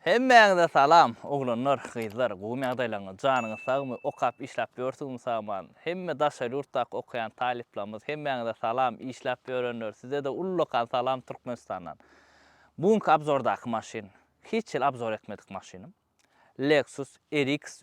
Hemmäňize salam oglanlar gyzlar gowymy ýagdaýlaryňyz janyňyz sagmy okap işläp ýörsüňizmi saman hemme daşary ýurtdaky okaýan talyplarymyz hemmäňize salam işläp ýörenler sizede ullakan salam Türkmenistandan bu günki abzordaky maşyn hiç hili abzor etmedik maşynym Lexus RX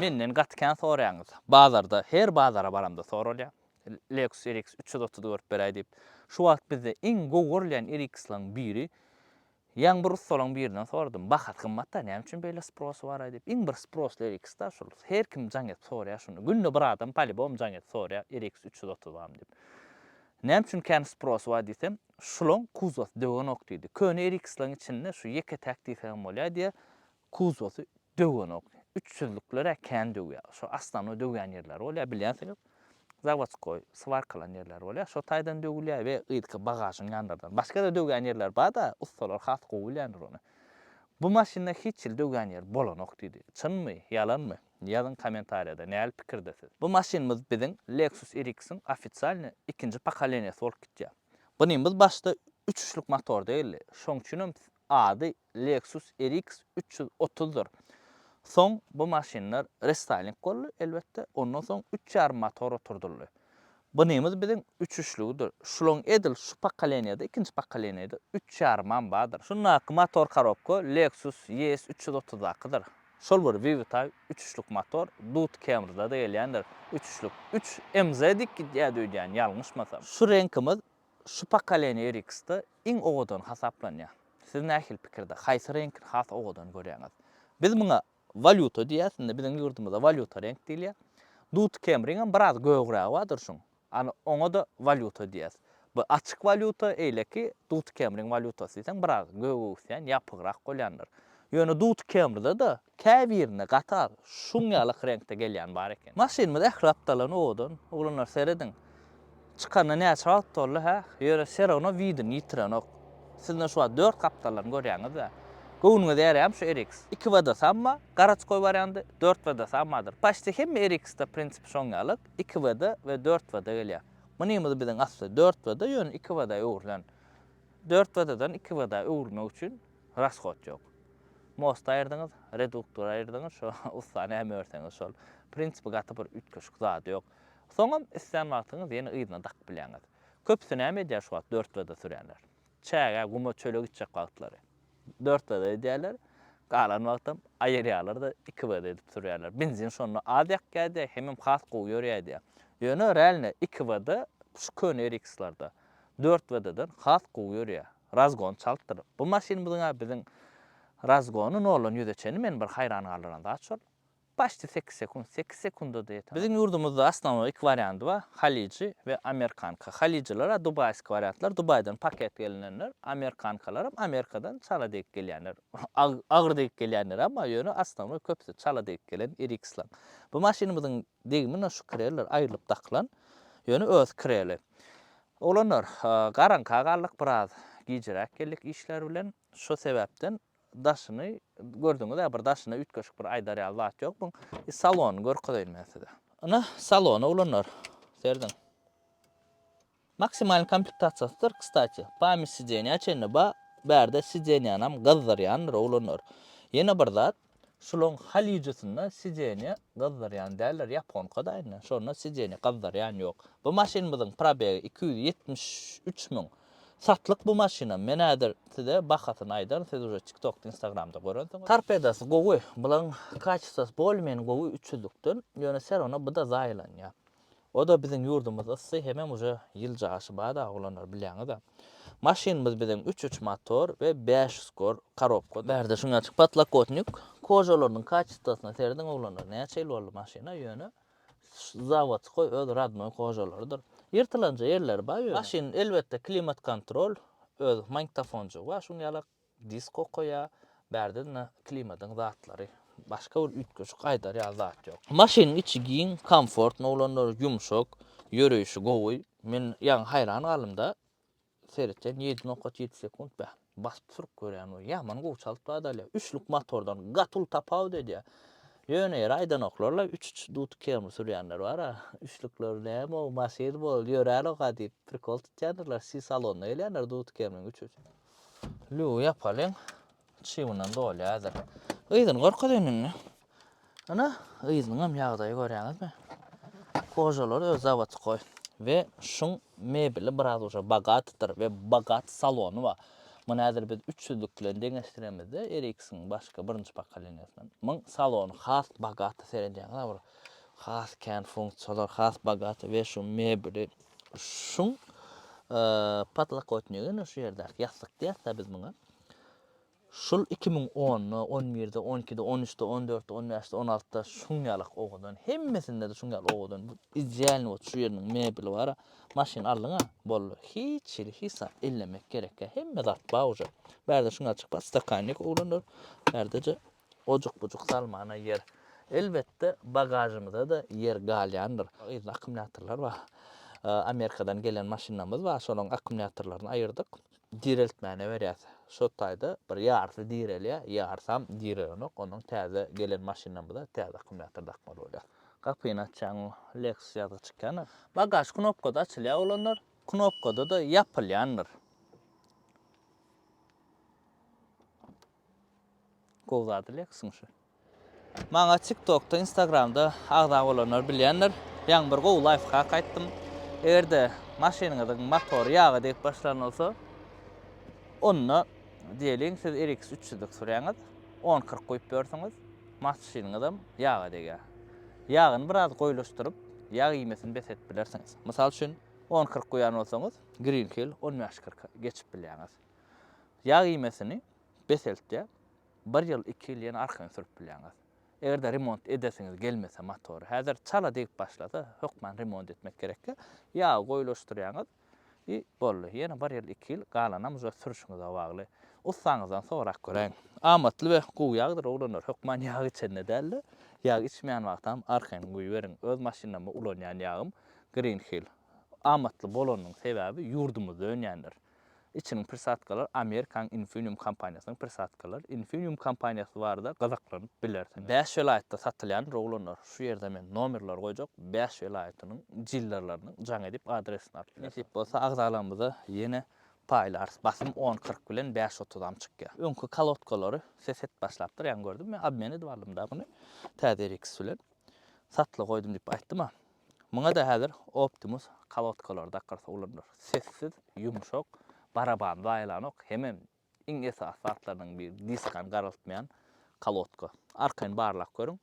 Menden gaty kän soraýaňyz. Bazarda, her bazara baramda soralýar. Lexus RX üç ýüz otuz görüp beräý diýip. Şu wagt bizde iň gowy görülýän RX-laryň biri. Ýaňy bir ussalaryň birinden soradym. Bahasy gymmat-da, näme üçin beýle sprosy bar-aý diýip. Iň bir sprosly RX-da şol. Her kim jaň edip soraýar şuny. Günde bir adam polibom jaň edip soraýar, RX üç ýüz otuz barmy diýip. Näme üçin kän sprosy bar diýsem, şulaň kuzosy döwenok diýdi. Köne RX-laryň içinde şu ýeke-täk diýseň hem bolýar diýýär. Kuzosy döwenok. Üç süzlükler-ä kän döwýär. Şo asnanoý döwýän ýerleri bolýar, bilýänsiňiz. Zawodskoý, swarkalan ýerleri bolýar. Şo taýdan döwülýär we yzky bagažyň ýanlardan. Başga-da döwýän ýerler bar-da, ussalar has gowy bilýändir ony. Bu maşynda hiç ýyl döwýän ýeri bolanok, diýdi. Çynmy, ýalanmy? Ýazyň kommentariýada, näl pikirde siz? Bu maşynymyz biziň Lexus RX-iň ofisialny ikinji pokoleniýasy bolup gidýär. Bunymyz başda üç uçlyk motor däldi. Şoň üçinem ady Lexus RX üç ýüz otuzdyr. Soň bu maşynlar restyling boldy, elbetde, ondan soň üç ýarym motor oturdyldy. Bunymyz biziň üçüşligidir. Şulaň edil şu pokoleniýada, ikinji pokoleniýada üç ýarymam bardyr. Şundaky motor korobka Lexus ES üç ýüz otuzdakydyr. Şol bir VW-Type üçüşlik motor Dodge Camry-da-da gelýändir, üçüşlik. Üç MZ dik gidýärdi öýdýän, ýalňyşmasam. Şu reňkimiz şu pokoleniýa RX-de iň owadan hasaplanýar. Siz nähili pikirde, haýsy reňki has owadan görýäňiz? Biz muňa walýuta diýýäs, indi biziň ýurdumyzda walýuta reňk diýilýär. Dud kemriňem biraz gögrägi bar durşuň, ana oňa-da walýuta diýýäs. Bu açyk walýuta, eýleki dud kemriň walýutasy diýseň biraz göge öwüsýän, ýapygrak bolýandyr. Ýöne dud kemrde-de Käbirinde gatal, şuň ýalak reňkde gelýän bar eken. Maşynymyz ähli gapdalyndan owadan. Oglanlar serediň. Çykanyna näçe wagt boldy, hä? Ýöne Serona widini ýitirenok. Siz-de şu wagt dört gapdallaryny görýäňiz-dä. Göwnüňize ýaraýamy şu RX? Iki WD samma, garaçkoý wariandy, dört WD sammadyr. Paçti hemme RX-de prinsipi şoň ýalak, iki WD we dört WD gelýär. Mynymyz biziň asly dört WD, ýöne iki WD-a öwrülen. Dört WD-dan iki WD-a öwrülmek üçin Raskot ýok. Mosty aýyrdyňyz, reduktory aýyrdyňyz, şo ussa näme örseňiz şol. Prinsipi gaty bir üýtgeşik zady ýok. Soňam islän wagtyňyz ýene yzyna dakyp bilýäňiz. Köpüsi näme edýär şu wagt dört wda sürýänler? Çägä, guma, çöle gitjek wagtlary dört wda edýärler, galan wagtam aýyrýarlar-da iki wda edip sürýärler. Benzin şonda az ýakýardy, hemem has gowy ýörýärdi. Ýöne realno iki wda şu köne RX-lerde dört wda-dan has gowy ýörýär. Razgon çaltdyr. Bu maşynymyzyň-a biziň razgony noldan ýüze çeni meni bir haýran galdyran zat şol. Başdi sekiz sekunt, sekiz sekunda-da ýeter. Biziň ýurdumyzda osnownoý iki wariandy bar, halyjy we amerikanka. Halyjylar-a dubaýski wariantlar, Dubaýdan paket gelinenler, amerikankalaram Amerikadan çala degip gelýänler. Agyr degip gelýänler emma ýöne osnownoý köpüsi çala degip gelen RX-laň. Bu maşynymyzyň degimi-ne şu krellor aýrylyp dakylan, ýöne özi kreli. Oglanlar, garaňka galdyk biraz, gijiräk geldik işler bilen, şo sebäpden daşyny, gördüňiz-ä, bir daşyna üýtgeşik bir aýdar ýaly zat ýok muň, i salonyny görkezeýin men size. Ine, salony, oglanlar, serediň. Maksimalnyý komplektasiýasydyr, kstati, pamýat sidenýa çenli bar, bärde sidenýanam gyzdyrýandyr, oglanlar. Ýene bir zat, Şulaň halyjysynda sideniýa gyzdyrýan däldir ýaponkaday indi şonda sideniýa gyzdyrýan ýok. Bu maşynymyzyň probegi iki ýüz ýetmiş üç müň satlyk bu maşynam men häzir size bahasyny aýdaryn siz uje tiktokda instagramda görensiňiz. Torpedasy gowy bulaň kaçestosy bolmen gowy üç ýüzlükden ýöne serona byda zaýalanýa O-da biziň ýurdumyz yssy hemem uje ýyl jaşy bada oglanlar bilýäňiz-a. Maşynymyz biziň üç üç motor we bäş ýüz kor karobka. Bärde şuny açyk potlakotnik kožalarynyň kaçestosuna serediň oglanlar näçe ýyl boldy maşyna ýöne zawodskoý öz radnoý kožalarydyr. Ýyrtylanja ýerleri bar ýöne. Maşynyň elbetde klimat kontrol öz magntofonjygy bar şuny ýalak Disk okaýa, bärde-de klimadyň zatlary. Başga bir üýtgeşik aýdar ýaly zat ýok. Maşynyň içi giň, komfortny bolandyr, ýumşak, ýöreýşi gowy. Men ýaňy haýran galdym-da, seretýän ýedi nokat ýedi sekunt bä. Basyp sürüp görýän we ýaman gowy çalyp badalýar. Üçlük motordan gaty uly tapawut edýär. Ýöne ýeri aýdanoklar-la, üç-üç duty kemri sürýänler bar-a, üçlükler näme-ow, maşyn bol, ýör-älä-oka diýip prikol tutýandyrlar, si salonda gelýändir duty kemriň üç-üç. Lüwi ýapalyň. Çygundan dolýardyr. Yzyny görkezeýin indi. Ana, yzynyňam ýagdaýy görýäňizmi? Kožalary öz zawody goý. We şuň mebeli biraz uje bogatydyr we bogaty salony bar. Muny häzir biz üç ýüzlük bilen deňeşdiremizde, RX-iň başky birinji pokoleniýasynyň. Muň salony has bogaty seredýäňiz-a bir has kän funksiýalar, has bogaty we şu mebeli. Şuň podlokotnigi ine şu ýerdäki ýassyk diýýäs-dä biz muňa. Şul 2010-da, 11-de, 12-de, 13-de, 14-de, 15-de, 16-da şuň ýalyk owadan. Hemmesinde-de şuň ýaly owadan. Bu idealny bot şu ýeriniň mebeli bara. Maşyn aldyň-a, boldy. Hiç hili hisap ellemek gerek ýa. Hemme zat ba uje. Bärde şuň ýaly çyk bar, stakannik oglanlar. Bärde-je Ojuk-bujuk salmana ýer. Elbetde, bagažymyza-da ýer galýandyr. Yzynda akkumulýatorlar bar. Amerikadan gelen maşynamyz bar, şolaryň akkumulýatorlaryny aýyrdyk. Direltmäne berýäs. Şo taýda bir ýarysy direlýär, ýarysam direlenok. Ondan täze gelen maşynamyza täze akkumulýator dakmaly bolýar. Gapyny açýaň, Lexus ýazgy çykýan. Bagaž knopkada açylýar bolandyr, knopkada-da ýapylýandyr. Gowy zady leksyň şu. Maňa tiktokda instagramda agza bolanlar bilýändir. Ýaňy bir gowy laýfhak aýtdym. Egerde maşynyňyzyň motory ýaga degip başlan bolsa, onda diýeliň siz RX üç ýüzlik sürýäňiz, on kyrk guýup ýörsüňiz, maşynyňyzam ýaga degýär. Ýagyny biraz goýulaşdyryp, ýag iýmesini bes edip bilersiňiz. Mysal üçin, on kyrk guýan bolsaňyz, green hill on bäş kyrka geçip bilýäňiz. Ýag iýmesini peseltýär. Bir ýyl, iki ýyl ýene arkaýyn sürüp bilýäňiz. Eger-de remont edesiňiz gelmese motory, häzir çala degip başlasa, hökman remont etmek gerek. Ýagy goýulaşdyrýaňyz i boldy. Ýene bir ýyl, iki ýyl galanam uje sürüşiňize bagly. Ussaňyzdan sorap göräýiň. Amatly we gowy ýagdyr oglanlar. Hökman ýag içende däl-de, ýag içmeýän wagtam arkaýyn guýuberiň. Öz maşynymda ulanýan ýagym Green Hill. Amatly bolanynyň sebäbi ýurdumyzda önýändir. Içiniň prisatkalar Amerikanyň Infineum kompaniýasynyň prisatkalar. Infineum kompaniýasy barada gyzaklanyp bilersiňiz. Bäş welaýatda satylýan rowlanlar. Şu ýerde men nomerleri goýjak, bäş welaýatynyň dillerleriniň jaň edip adresini alyp bilersiňiz. Nesip bolsa agzalygymyza ýene paýlarys. Basym on kyrk bilen bäş otuzam çykýar. Öňki kalodkalary ses et başlapdyr ýaňy gördüm. Men obmen edip aldym-da buny. Täze RX bilen. Satlyga goýdum diýip aýtdym-a. Muňa-da häzir Optimus kolodkalary dakyrsa ulanylar. Sessiz, ýumşak, baraban zaýalanok, hemem iň esasy zatlarynyň biri, diskany garaltmaýan kolodka. Arkaýyn barlap görüň,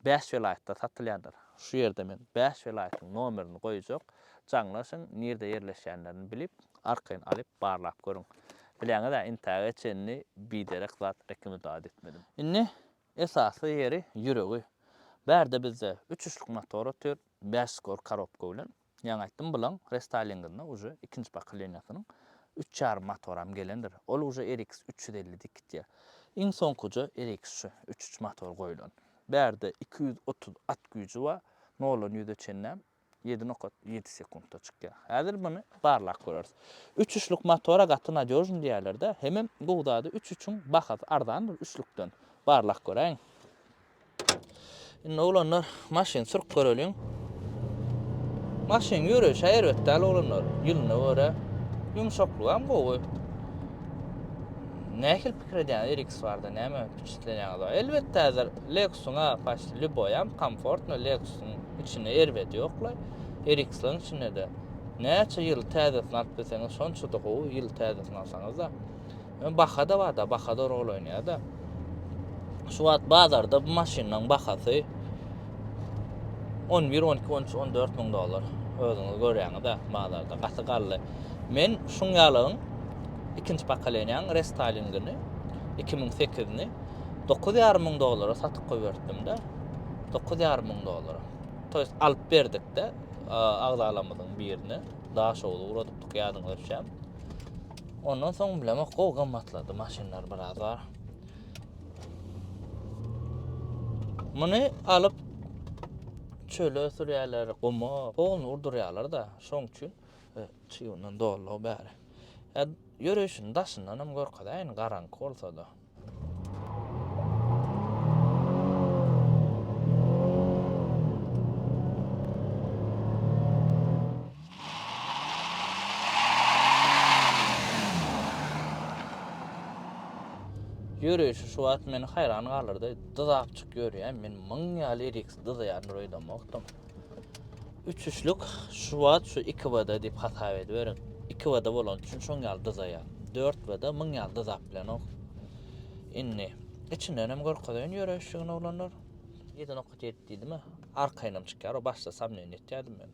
bäş welaýatda satylýandyr. Şu ýerde men bäş welaýatyň nomerini goýjak, jaňlaşyň, nirde ýerleşýänlerini bilip, arkaýyn alyp barlap görüň. Bilýäňiz-ä, intäge çenli biderek zat rekomendowat etmedim. Indi Esasy ýeri ýüregi. Bärde bizde üç üçlük motor otyr, bäş skor karobka bilen. Ýaňy aýtdym, bulaň restalinginde uje ikinji pokoleniýasynyň üç ýarym motoram gelendir. Ol uje RX üç ýüz elli diýip gitýär. Iň soňkuje RX şu üç üç motor goýlan. Bärde iki ýüz otuz at güýji bar, noldan ýüze çenlem. Ýedi nokat ýedi sekuntda çykýar. Häzir muny barlap göreris. Üç üçlük motora gaty nadýožny diýýärler-dä. Hemem gowy zady üç üçüň bahasy arzandyr üçlükden. Barlap göräýiň. Indi oglanlar maşyny sürüp göreliň. Maşynyň ýöreýşi-ä erbet däl oglanlar. Ýylyna görä ýumşaklygy hem gowy. Nähili pikir edýäňiz RX barada näme? Üstlenýäňiz bar. Elbetde häzir Lexus-yň-a paçt lýuboýam komfortno Lexus-yň içinde erbedi ýoklaý. RX-laryň içinde-de näçe ýyl täzesini alyp bilseňiz şonça-da gowy, ýyl täzesini alsaňyz-da. Ýöne baha-da bar-da, baha-da rol oýnaýar-da. Şu wagt bazarda bu maşynlaryň bahasy On bir, on iki, on üç, on dört müň dollar. Özüňiz görýäňiz-ä, bazarda gaty gally. Men şuň ýalyň ikinji pokoleniýaň restalingini 2008-ni 9,5 müň dollara satyp goýberdim-de. 9,5 müň dollara. To ýest alyp berdik-de agzalarymyzyň birine. Daş owly uradypdyk ýadyňyza düşýär. Ondan soň bilemok, gowy gymmatlady maşynlar biraz bar. Muny alyp çöle sürýärler, guma, ony urdurýarlar-da, şoň üçin e, çygundan dolug bäri. E, Ýörüşini daşyndan hem görkezäýin, garaňky bolsa-da. Ýörüşi şu wagt meni haýran galdyrdy. Dyzakçyk ýörýän, men müň ýaly eriks dyzaýan roýdamokdym. Üçüşlik şu wagt şu 2 bada diýip hasap ediberiň. 2 bada bolan üçin şoň ýaly dyzaýan. 4 bada müň ýaly dyzap bilenok. Indi içinden hem görkezeýin ýörüşigini oglanlar. Ýedi nokat ýetdi diýdimi? Arkaýynam çykýar, o başda samnýen etýärdim men.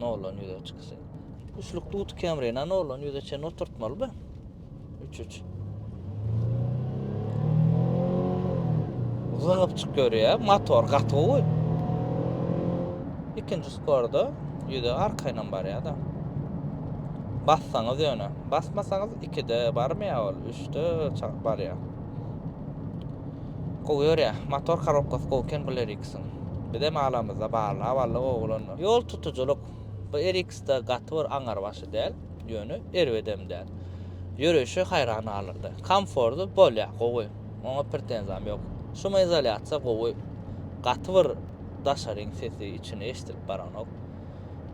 Noldan ýüze çyksy. Üçlük duty kemri, na noldan ýüze çen oturtmaly be. Üç üç. Zygyp çyk görýä, motor gaty gowy. İkinci skorda ýüze arkaýynam barýa da. Bassaňyz ýöne, basmasaňyz 2-de barmaýa ol, 3-de barýa. Gowy ýörýä. Motor korobkasy gowy eken bul RX-iň. Bizem alamyzda barla walla gowy bolandyr. Ýol tutujylyk bu RX-da gaty bir aňarbaşy däl, ýöne erbedem däl. Ýöreýşi haýran galyrdy. Komforty bolýa, gowy. Oňa pretenziýam ýok. Şumoizolýasiýa gowy. Gaty bir daşaryň sesi içine eşidilip baranok.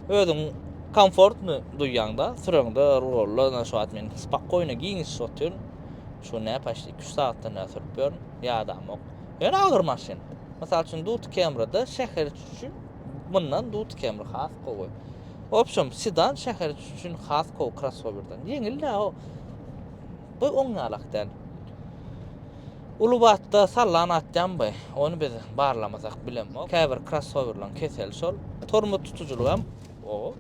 Özüň komfortny duýýaňda süreňde rulda, ynha şu wagt men spokojno giňişip otyryn. Şu ne paşt 2-3 sagatda ne sürüp ýörün, ýadamok. Ýöne agyr maşyn. Mysal üçin Duty Camry-da şäher üçin mundan Duty Camry has gowy. Obşem sedan şäher üçin has gowy krossowerden. Ýeňil-de o. Bu oň ýalak däl. Uly batda sallan atýanby? Ony biz barlamasak bilemok. Käbir krossowerlaryň keseli şol. Tormoz tutujylygy hem o.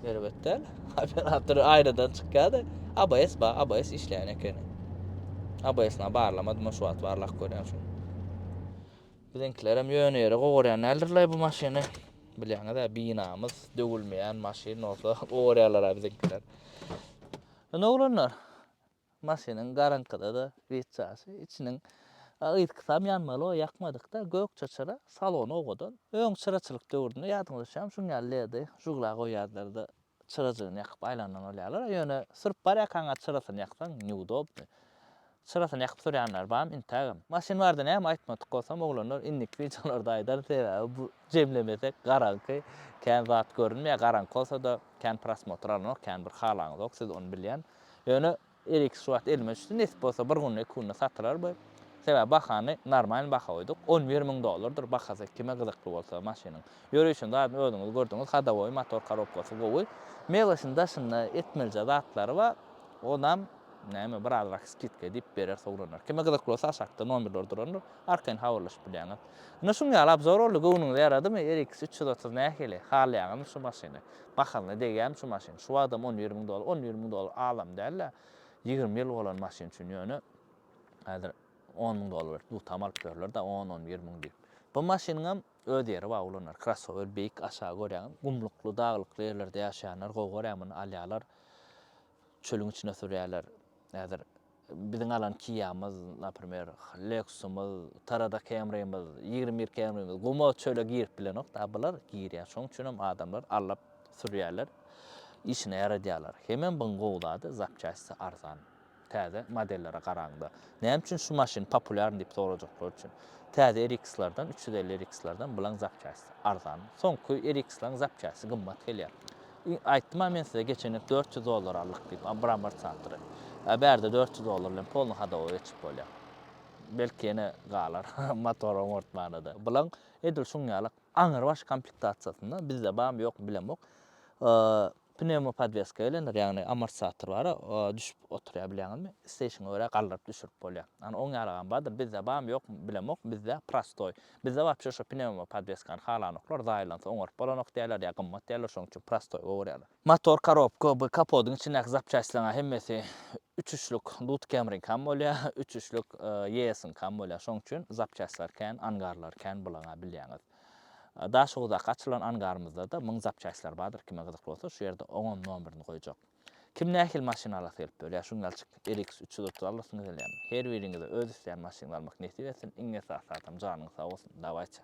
Erbet däl. Operator aýradan çykýar-da. ABS bar, ABS işleýän ekeni. ABS-na barlamadym, şu wagt barlap görýän şu. Biziňkilerem ýöne ýere gowurýan däldirler bu maşyny. Bilýäňiz-ä, binamyz döwülmeýän maşyn bolsa gowurýarlar-a biziňkiler. Indi oglanlar, Maşynyň garaňkyda-da witjasy, içiniň yzkysam ýanmaly-oý ýakmadyk-da, gök çyçyra, salony owadan. Öň çyraçylyk döwründe, ýadyňyza düşýärmi, şuň ýaly ledy žugla goýýardylar-da, çyrajygyny ýakyp aýlandan bolýarlar-a. Ýöne sürüp barýarkaňa çyrasyny ýaksaň, neudobny. Çyrasyny ýakyp sürýänler barmy? Intägem. Maşyn bardy, näme aýtmadyk bolsam, oglanlar indiki wideolarda aýdaryn, sebäbi bu. Jemlemesek garaňky, kän zat görünmeýär, garaňky bolsa-da kän prosmotr alynok, kän bir halaňyzok, siz ony bilýän. Ýöne Elix şu wagt elime düşdi, nesip bolsa bir günde, iki günde satylar bu. Sebäbi bahany normalny baha goýduk, on bir müň dollardyr bahasy kime gyzykly bolsa maşynyň. Ýörişini zadyny özüňiz gördüňiz, hodowoý, motor korobkasy gowy. Mebeliň daşynda etmelije zatlary bar, onam näme biraz rak skidka diýip berer, sowlanar. Kime gyzykly bolsa aşakda nomerler durandyr, arkaýyn habarlaşyp bilýäňiz. Ine şuň ýaly obzor boldy göwnüňize ýaradymy RX üç ýüz otuz nähili halaýaňyzmy şu maşyny bahalyna degýämi şu maşyn şu wagtam on bir müň dollar on bir müň dollar azam dälä ýigrimi ýyl bolan maşyn üçin ýöne häzir on müň dollar berip dutam alyp ýörlerdä on on bir müň diýip bu maşynyňam öz ýeri bar ulanarka krossower beýik aşagy görýäňiz gumlukly daglykly ýerlerde ýaşaýanlar gowy görýär muny alýarlar çölüň içine sürýärler häzir Biziň alan Kia-myz, naprimer, Lexus-ymyz, Tarada Camry-myz, ýigrimi bir Camry-miz guma, çöle girip bilenok. Daa bular girýär. Şoň üçin hem adamlar allap sürýärler, işine ýaradýarlar. Hemem buň gowy zady, zapçastisy arzan. Täze modellere garaňda. Näme üçin şu maşyn populýarny diýip sorajaklar üçin. Täze RX-lardan, üç ýüz elli RX-lardan bulaň zapçastisy arzan. Soňky RX-laň zapçastisy gymmat gelýär. Aýtdym-a men size geçenlik dört ýüz dollar aldyk diýip, Abrambar Çantry. A bärde dört ýüz dollar bilen polny hadowa geçip bolýar. Belki ýene galar motor oňartmana-da. Bulaň edil şuň ýaly aňrybaş komplektasiýasynda, bizde barmy ýokmy bilemok, pnewmopodweska gelendir, ýagny amortizator bar-a, düşüp oturýar bilýäňizmi, isleýşiňe görä galdyryp düşürip bolýar. Ony oň ýalygam bardyr, bizde barmy ýokmy bilemok, bizde prostoý. Bizde wapşe şo pnewma podweskany halanoklar, zaýalansa oňaryp bolanok diýýärler ýa gymmat diýýärler şoň üçin prostoý gowurýarlar. Motor korobka bu kapodyň içindäki zapçastlaryň hemmesi üç üçlük Dut Camryňkam bolýar, üç üçlük Yeas'yňkam bolýar şoň üçin zapçastlar kän, angarlar kän bulaňa bilýäňiz. Daşoguzdaky açylan angarymyzda-da müň zapçastlar bardyr kime gyzykly bolsa şu ýerde oňam nomerini goýjak. Kim nähili maşyn alasy gelip ýör ýa şuň ýalçyk RX üç ýüz otuz alasymyz gelýärmi? Her biriňize öz isleýän maşyňyzy almak nesip etsin, iň esasy zatam janyňyz sag bolsun, dawaýça!